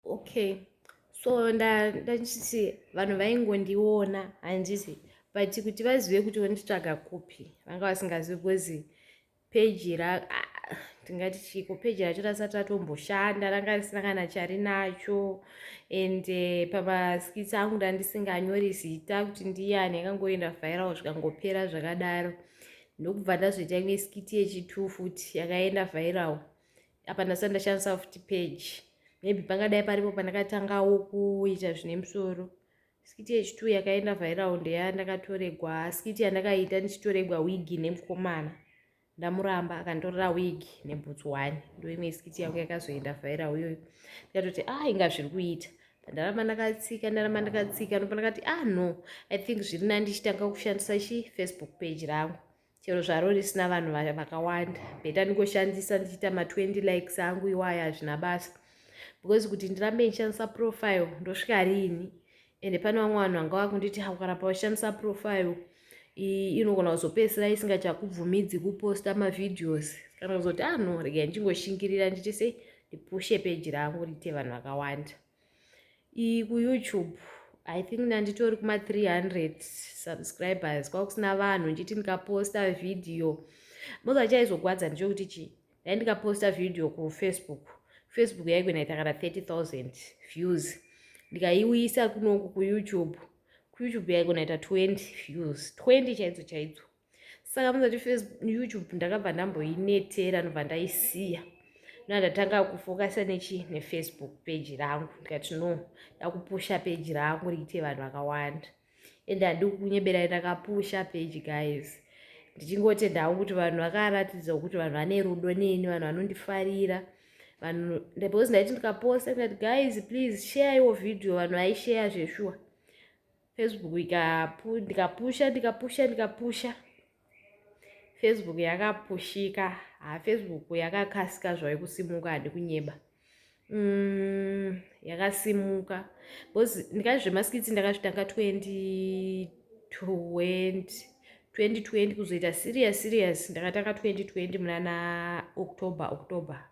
okay so ndachiti vanhu vaingondiona handiti but kuti vazive kuti vonditsvaga kupi vanga vasingazivi because peji ra tingati chiko peji racho rasati ratomboshanda ranga risina kana chari nacho and eh, pamaskits angu ndandisinganyori zita kuti ndiyani yakangoenda viral zvikangopera zvakadaro ndokubva ndazviita imwe skiti yechitu futi yakaenda viral apa ndasati ndashandisa futi page maybe pangadai paripo pandakatangawo kuita zvine musoro skiti yechitwo yakaenda vhairaundi ya ndakatoregwa skiti yandakaita ndichitoregwa wigi nemukomana ndamuramba akanditorera wigi nebhutsu one ndoimwe skiti yangu yakazoenda vhaira uyoyo ndikatoti a ah, inga zviri kuita ndaramba ndakatsika ndaramba ndakatsika ndopa ndakati ah no i think zviri nani ndichitanga kushandisa chi facebook page rangu chero zvaro risina vanhu vakawanda bheta ndingoshandisa ndichiita ma20 likes angu iwaya hazvina basa because kuti ndirambe ndishandisa profile ndosvika riini ende pane vamwe vanhu vanga vakunditi ukaramba ushandisa profile inogona kuzopedzisira isingachakubvumidzi kuposta mavhideos kana kuzoti ano ah, regai ndichingoshingirira nditi sei ndipushe peji rangu riite vanhu vakawanda iyi kuyoutube i think nanditori kuma 300 subscribers kwakusina vanhu ndichiti ndikaposta vhidhiyo moza chaizogwadza ndichokuti chii dai ndikaposta vhidhiyo kufacebook facebook yaikunaita kana 30000 views ndikaiuyisa kunoku kuyoutube kuyoutube yaikunaita 20 views 20 chaidzo chaidzo saka muzoti youtube ndakabva ndamboinetera ndobva ndaisiya na ndatanga kufokasa nechi nefacebook peji rangu ndikati no ndakupusha peji rangu riite vanhu vakawanda ende handi kunyeberai ndakapusha peji guys ndichingotenda hangu kuti vanhu vakaratidza kuti vanhu vane rudo neni vanhu vanondifarira vanhu because ndaiti ndikaposta ndikati guys please share your video vanhu vaisheya zveshuwa Facebook ikapu ndikapusha ndikapusha ndikapusha Facebook yakapushika ha Facebook yakakasika zvayo kusimuka handi kunyeba mm, yakasimuka because ndikazi zvemaskitsi ndakazvitanga 2020 2020 kuzoita serious serious ndakatanga 2020 munana october october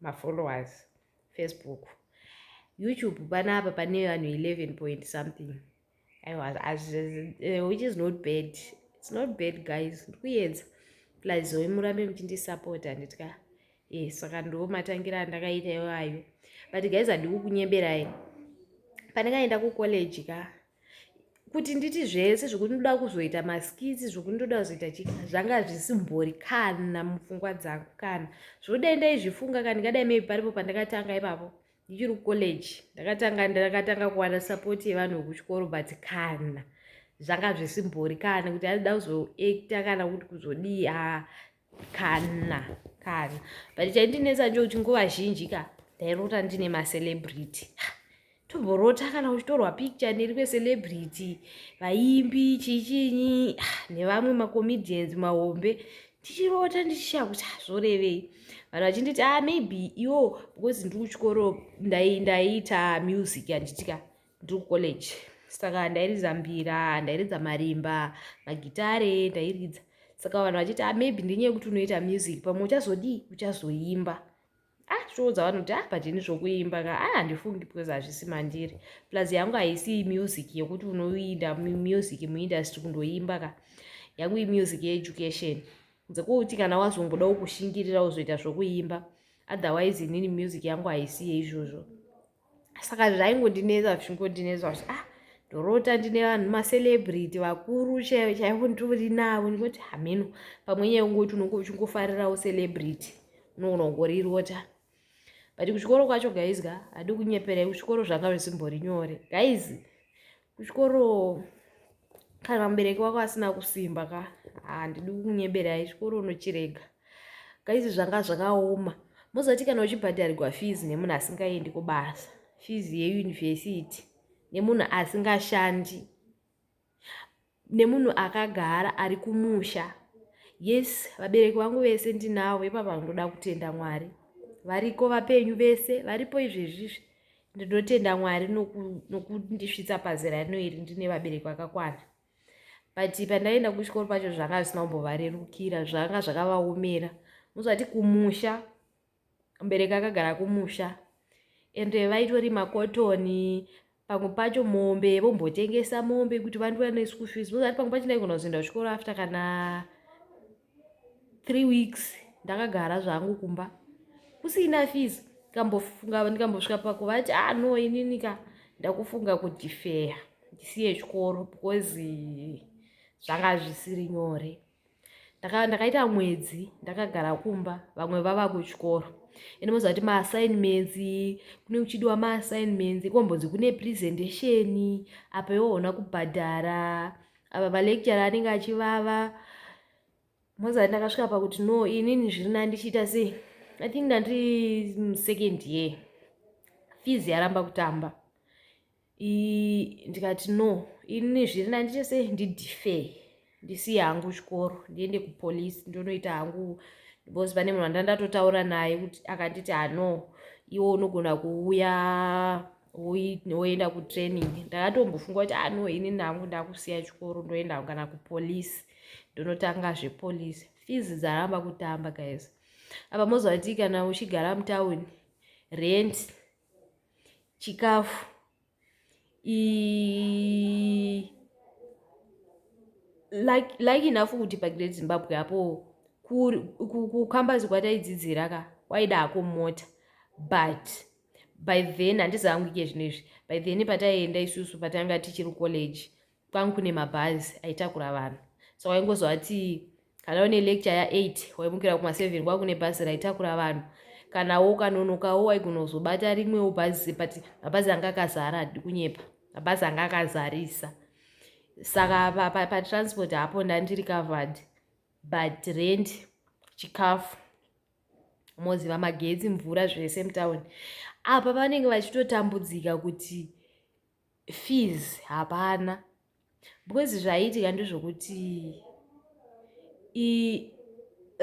mafollowers facebook youtube panapa pane vanhu 11 point something eh, which is not bad its not bad guys ndikuedza plus oe murambe muchindisapota nditya e eh, saka ndo matangira andakaita iwayo but guys handikukunyeberai pandakaenda kucollege ka kuti nditi zvese zvokuti ndoda kuzoita maskitsi zvokuti ndoda kuzoita chii zvanga zvisimbori kana mupfungwa dzangu kana zvokuti dai ndaizvifunga ka ndingadai maybe paripo pandakatanga ipapo ndichiri kucollege ndakatanga ndakatanga kuwana support yevanhu vekuchikoro but kana zvanga zvisimbori kana kuti aida kuzoacta kana kuti kuzodii a kana kana but chaindinetsa ndokuti nguva zhinji ka ndairota ndine macelebrity tomborota kana uchitorwa picture neri kwecelebrity vaimbi chichinyi nevamwe macomedians mahombe tichirota ndichishaya kuti hazvorevei ah, vanhu vachinditi a ah, maybe iwo because ndiri kuchikoro ndaiita music yanditika ndiri kucollege saka ndairidza mbira ndairidza marimba magitare ndairidza saka vanhu vachiti ah, maybe ndenyaya yekuti unoita music pamwe uchazodii uchazoimba ah zvoudza vanhu kuti ah but ini zvokuimba ka ah handifungi because hazvisi mandiri plus yangu haisi music yekuti unoinda music muindustry kundoimba ka yangu imusic yeeducation dzekuti kana wazongodawo kushingirira uzoita zvokuimba otherwise inini music yangu haisi yeizvozvo saka zvaingondinetsa zvingondinetsa kuti ah ndorota ndine vanhu macelebrity vakuru chaivo chaivo nditori navo ndingoti hameno pamwe nyaya ungoti unonge uchingofarirawo celebrity unogona kungorirota but kuchikoro kwacho guys ka hadi kunyeperai kuchikoro zvanga zvisimbori nyore guys kuchikoro kana mubereki wako asina kusimba ka handidi kunyeberai chikoro unochirega kaizi zvanga zvakaoma mozoti kana uchibhadharirwa fees nemunhu asingaendi kubasa fees yeyunivhesiti nemunhu asingashandi nemunhu akagara ari kumusha yes vabereki vangu vese ndinavo ipapa ndoda kutenda mwari variko vapenyu vese varipo izvezvizvi ndinotenda mwari nokundisvitsa pazera rino iri ndine vabereki vakakwana but pandaienda kuchikoro pacho zvanga zvisina kumbovarerukira zvanga zvakavaomera muzvati kumusha mbereki akagara kumusha ende vaitori makotoni pamwe pacho mombe vombotengesa mombe kuti vandiwane school fees muzvati pamwe pacho ndaigona kuzoenda kuchikoro after kana three weeks ndakagara zvangu kumba kusina fees ndikambofunga ndikambosvika pakuvati ah no inini ka ndakufunga kudifeya ndisiye chikoro because zvanga zvisiri nyore ndakaita mwedzi ndakagara kumba vamwe vava kuchikoro ende moziva kuti maassignments kune kuchidiwa maassignments kombonzi kune presentation apa iwo ona kubhadhara apa palecture anenge achivava mozati ndakasvika pakuti no inini zviri na ndichiita sei i think ndandiri second year fees yaramba kutamba ndikati no inini zviri na ndichiita sei ndidife ndisiye hangu chikoro ndiende kupolice ndonoita hangu because pane munhu andandatotaura naye kuti akanditi hano ah, iwo unogona kuuya woenda kutraining ndakatombofunga kuti ano ah, ini nangu ndakusiya chikoro ndoenda kana kupolice ndonotanga zvepolice fees dzaramba kutamba guys apa moziva kuti kana uchigara mutown rent chikafu like enough kuti pagreat zimbabwe apo kukambazikwa taidzidzira ka waida hako mota but by then handizi hangu ike zvino izvi by then pataienda isusu patanga tichiri college kwangu kune mabhazi aitakura vanhu so waingozovati kana une lecture ya8 waimukira kuma7 kwaa kune bhazi raitakura vanhu kana wo kanonokawo waigona kuzobata rimwewo bhazi but mabhazi anga akazara hadi kunyepa mabhazi anga akazarisa saka patransport pa, pa hapo ndandiri covered but rent chikafu moziva magetsi mvura zvese mutown apa vanenge vachitotambudzika kuti fees hapana because zvaiitika ndezvokuti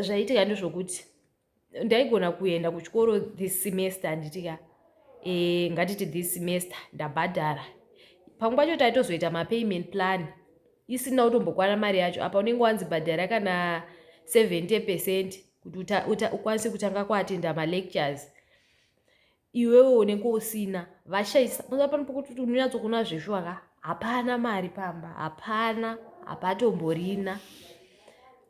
zvaiitika ndezvokuti ndaigona kuenda kuchikoro this semester handitika e, eh, ngatiti this semester ndabhadhara pamwe pacho taitozoita mapayment plan isina kutombokwana mari yacho apa unenge wanzi bhadhara kana 70 percent kuti ukwanise kutanga kuatenda malectures iwewe unenge usina vashaisa mazuva pano pokuti kuti unonyatsokuona zveshuwa ka hapana mari pamba hapana hapatomborina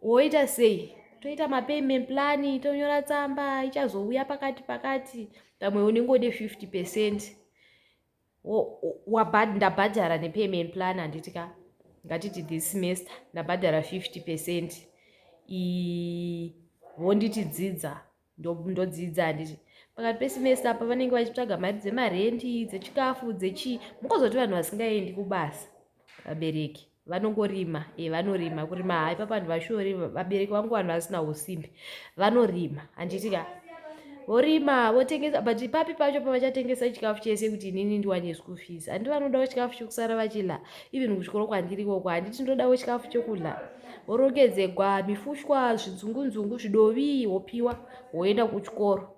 woita sei toita mapayment plan tonyora tsamba ichazouya pakati pakati pamwe unenge wode 50 percent wabhad ndabhadhara nepayment plan handiti ka ngatiti this semester ndabhadhara 50 percent vonditi dzidza ndodzidza handiti pakati pesemester apa vanenge vachitsvaga mari dzemarendi dzechikafu dzechii mukozoti vanhu vasingaendi kubasa vabereki vanongorima e vanorima kurima ha ipa vanhu vashori vabereki vangu vanhu vasina usimbi vanorima handitika vorima votengesa but ipapi pacho pavachatengesa chikafu chese kuti inini ndiwane school fees handi vanodawo chikafu chekusara vachila even kuchikoro kwandiri koko handiti ndodawo chikafu chokudla vorongedzegwa mifushwa zvinzungunzungu zvidovi wopiwa woenda kuchikoro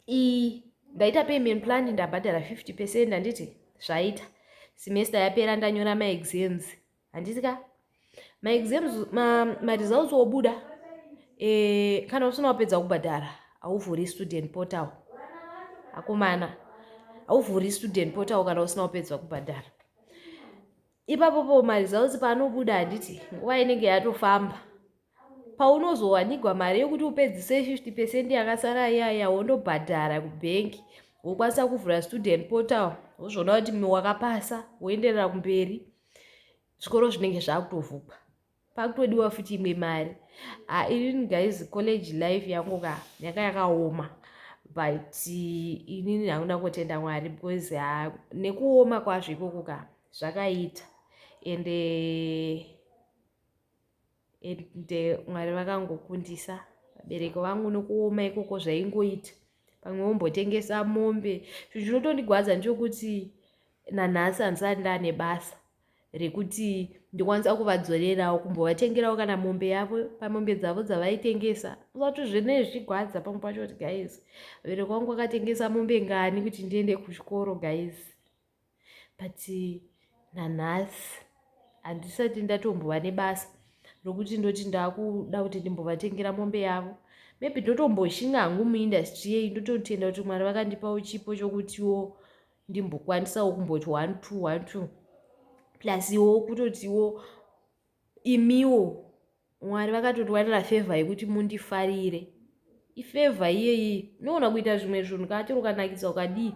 iyi ndaita payment plan ndabhadhara 50 percent handiti zvaita semester yapera ndanyora maexams handiti ka maexams maresults ma obuda e, kana usina wapedza kubhadhara hauvhuri student portal akomana hauvhuri student portal kana usina wapedza kubhadhara ipapopo maresults paanobuda handiti nguva inenge yatofamba paunozowanigwa mari yekuti upedzise 50 pecent yakasara iyaya wondobhadhara kubhengi wokwanisa kuvhura student portal wozviona kuti wakapasa woenderera kumberi zvikoro zvinenge zvakutovhugwa pakutodiwa futi imwe mari ah, inini guys college life yangu ka yanga yakaoma but inini hakuna kutenda mwari because ah, nekuoma kwazvo ikoko ka zvakaita ende ende mwari vakangokundisa vabereki vangu nokuoma ikoko zvaingoita pamwe wombotengesa mombe zvinhu zvinotondigwadza ndechokuti nanhasi handisati ndane basa rekuti ndikwanisa kuvadzorerawo kumbovatengerawo kana mombe yavo pamombe dzavo dzavaitengesa zvato zvine zvigwadza pamwe pacho kuti guys vabereki vangu vakatengesa mombe ngani kuti ndiende kuchikoro guys but nanhasi handisati ndatombova nebasa rokuti ndoti ndakuda kuti ndimbovatengera mombe yavo maybe ndotomboshinga hangu muindustry yeyi ndototenda kuti mwari vakandipawo chipo chokutiwo ndimbokwanisawo kumboti one two one two plus iwo kutotiwo imiwo mwari vakatotiwanira fevha yekuti mundifarire ifevha iyeyi unoona kuita zvimwe zvinhu kachero ukanakidza ukadii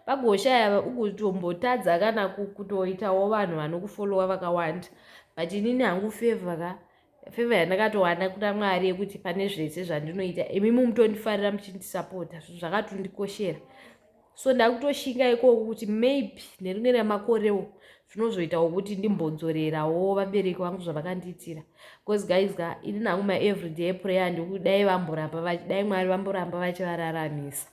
pagoshaya ugotombotadza kana kutoitawo vanhu vanokufolowa vakawanda but inini hangu fevha ka fevha yandakatowana kuna mwari yekuti pane zvese zvandinoita imi mumutondifarira muchindisapota zvakatondikoshera so ndakutoshinga ikoko kuti maybe nerimwe ramakorewo zvinozoitawo kuti ndimbodzorerawo vabereki vangu zvavakandiitira bcause guys ka ini nangu maevryday prayer ndikuti dai vamboramba dai mwari vamboramba vachivararamisa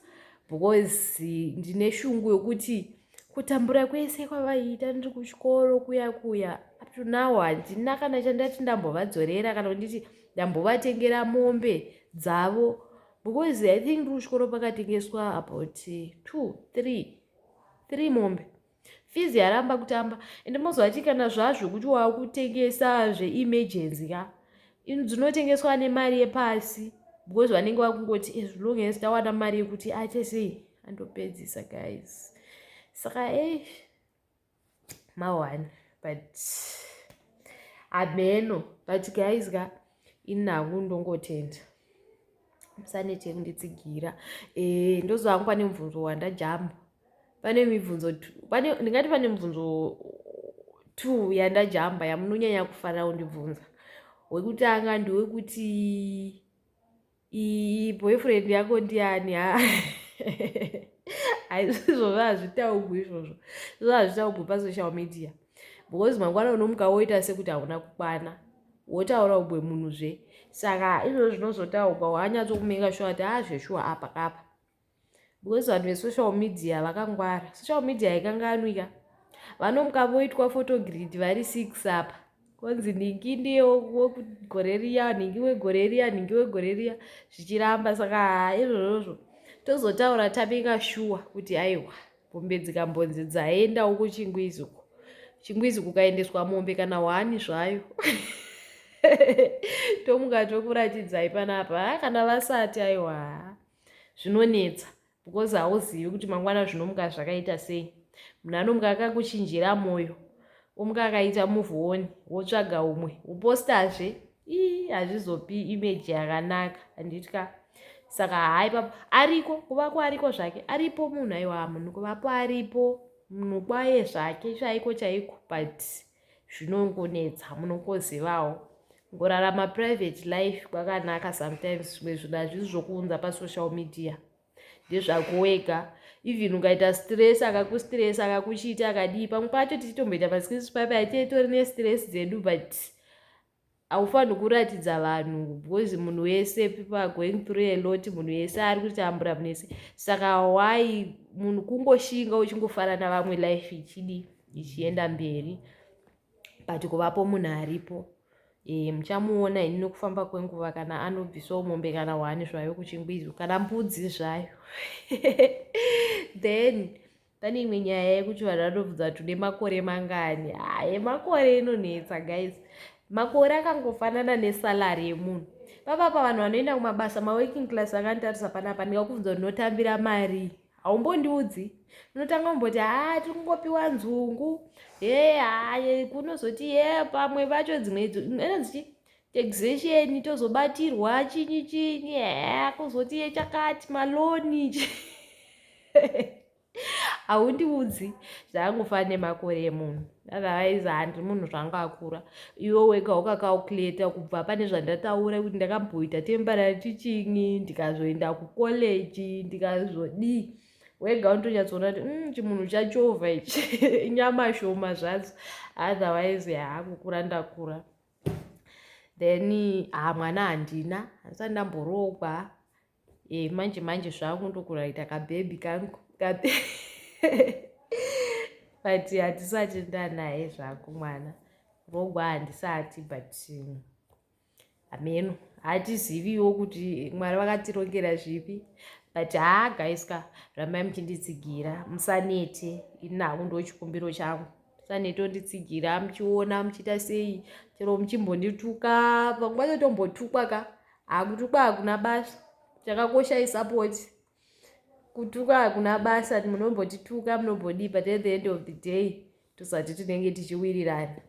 because ndine shungu yokuti kutambura kwese kwavaiita ndiri kuchikoro kuya kuya up to now handina kana chandati ndambovadzorera kana kunditi ndambovatengera mombe dzavo because i think rushkoro pakatengeswa about eh, two three three mombe fizi yaramba kutamba ende mozovati kana zvazvo kuti waakutengesa zveemergency ka dzinotengeswa nemari yepasi because vanenge vakungoti as eh, long as tawana mari yekuti aite sei andopedzisa guys saka eish maone but hameno but guys ka ini hangu ndongotenda musanete kunditsigira e, eh, ndoziva hangu pane mubvunzo wandajamba pane mibvunzo ndingati pane mubvunzo two yandajamba yamunonyanya kufanira kundibvunza wekutanga ndewekuti iyi boyfriend yako ndiani ha aizvizvo zvazvitaugwi izvozvo izvozvo hazvitaugwi pasocial media because mangwana unomuka woita sekuti hauna kukwana wotaura ubwe munhu zve saka izvozvo zvinozotaugwa wanyatsokumenga shuwa ti a ah, zveshuwa apa kapa because vanhu vesocial media vakangwara social media haikanganwika vanomuka voitwa photogrid vari six apa konzi nhingi ndiye wegore riya nhingi wegore riya nhingi wegore riya zvichiramba saka izvozvozvo tozotaura tabika shuwa kuti aiwa mombe dzikambonzi dzaenda uko chingwizi uko chingwizi kukaendeswa mombe kana hwani zvayo tomuka tokuratidzai panapa kana vasati aiwa zvinonetsa because hauzivi kuti mangwana zvinomuka zvakaita sei munhu anomuka akakuchinjira mwoyo omuka akaita muvhuoni wotsvaga umwe wopostazve ii hazvizopi imeji yakanaka handitya saka hai papa ariko kuvako ariko zvake aripo munhu aiwa munhu kuvapo aripo munhu kwaye zvake chaiko chaiko but zvinongonetsa munongozivawo ngorarama private life kwakanaka sometimes zvimwe zvinhu hazvisi zvokuunza pasocial media ndezvako wega even ukaita stress akakustress akakuchiita akadii pamwe pacho tichitomboita maskisi paipa titori nestress dzedu but haufanhi kuratidza vanhu because munhu wese people are going through a lot munhu wese ari kutambura munhu wese saka why munhu kungoshinga uchingofara navamwe life ichidi ichienda mberi but kuvapo munhu aripo e, muchamuona ini nokufamba kwenguva kana anobvisawo mombe kana hwani zvayo kuchingwizi kana mbudzi zvayo then pane imwe nyaya yekuti vanhu vanobvunza kuti une makore mangani haye makore inonetsa guys makore akangofanana nesalary yemunhu papapa vanhu vanoenda kumabasa maworking class vakanditarisa panapa ndikakubvunza kuti ndinotambira mari haumbondiudzi unotanga kumboti haa tiri kungopiwa nzungu he haye kunozoti ye pamwe vacho dzimwe ena dzichi taxation tozobatirwa chinyi chinyi haa kuzoti yechakati maloni haundiudzi zvaangofana nemakore emunhu otherwise handi munhu zvanga akura iwe wega ukacalculata kubva pane zvandataura kuti ndakamboita temporary teaching ndikazoenda kucollege ndikazodii wega unotonyatsoona kuti mm, chimunhu chachovha ichi inyama shoma zvadzo otherwise yaakukura ndakura then haa mwana handina handisati ndamboroogwa e, manje manje zvangu ndokuraita kabhebhi kangu but handisati ndanaye zvangu mwana kurogwa handisati but um, hameno hatiziviwo kuti mwari vakatirongera zvipi but haa gaiska rambai muchinditsigira musanete ini naku ndochikumbiro changu sanetotitsigira muchiona muchiita sei chero muchimbondituka panguva yotombotukwa ka hakutukwa hakuna basa chakakosha isupport kutuka hakuna basa munombotituka munombodii but at the end of the day tosati tinenge tichiwirirana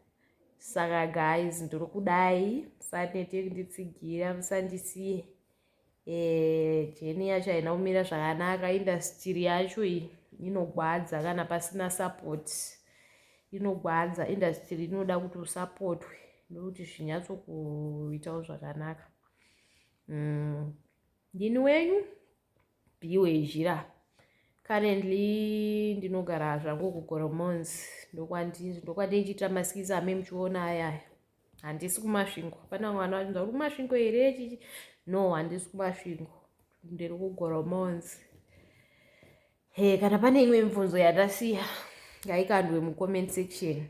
saka guys ndiri kudai musanete kunditsigira musandisiye eh, jeni yacho haina kumira zvakanaka indastiri yacho iyi inogwadza kana pasina support inogwadza indastiri inoda kuti usapotwe ndokuti zvinyatsokuitawo zvakanaka mm. ndini wenyu biwe zhira currently ndinogara zvangu kugoromons ndokwandindichiita maskisi ame muchiona ayaya handisi kumasvingo hapana mwana wachinza uri kumasvingo here chichi no handisi kumasvingo ndiri kugoromonzi he kana pane imwe mibvunzo yatasiya ngaikandwe mucomment section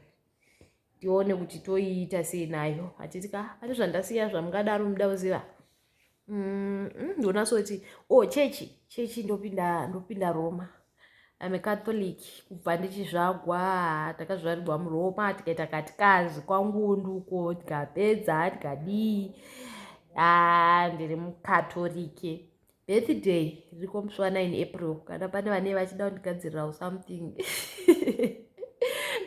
tione kuti toiita sei nayo hatiti ka pane zvandasiya zvamungadaro muda kuziva Mm, mm, ndonasoti o oh, chechi chechi ndopinda ndopinda roma ame catholic kubva ndichizvagwa takazvarirwa muroma tikaita katikazi kwangundu uko tikapedza tikadii a ah, ndiri mucatholice birthday riko musi wa 9 april kana pane vane vachida kundigadzirirawo something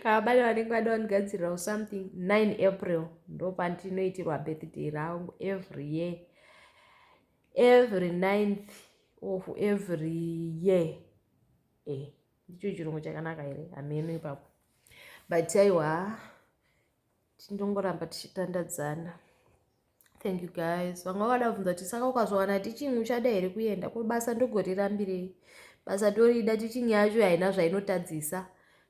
kana pane vanenge vada kundigadzirirawo something 9 april ndopandinoitirwa birthday rangu every year every ninth of every year e eh, ndicho chirungu chakanaka here hameno ipapo but aiwa tindongoramba tichitandadzana thank you guys vanga vakada kubvunza kuti saka ukazvawana tichingi uchada here kuenda ko basa ndogorirambirei basa torida tichingi yacho haina zvainotadzisa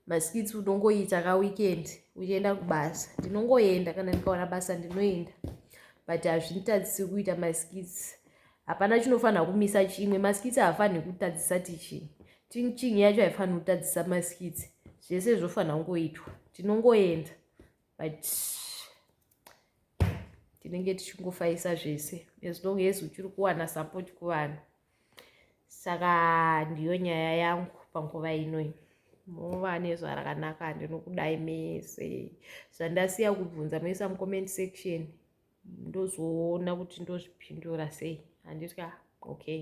maskits unongoita ka weekend uchienda kubasa ndinongoenda kana ndikawana basa ndinoenda but hazvitadzisi kuita maskits hapana chinofanira kumisa chimwe maskits haafaniri kutadzisa teaching teaching yacho haifaniri kutadzisa maskits zvese zvofanira kungoitwa tinongoenda but tinenge tichingofaisa zvese as long as uchiri kuwana support kuvanhu saka ndiyo nyaya yangu panguva inoi mova nezuva rakanaka ndinokudai mese zvandasiya kubvunza moisa mucomment section ndozoona kuti ndozvipindura sei handitya okay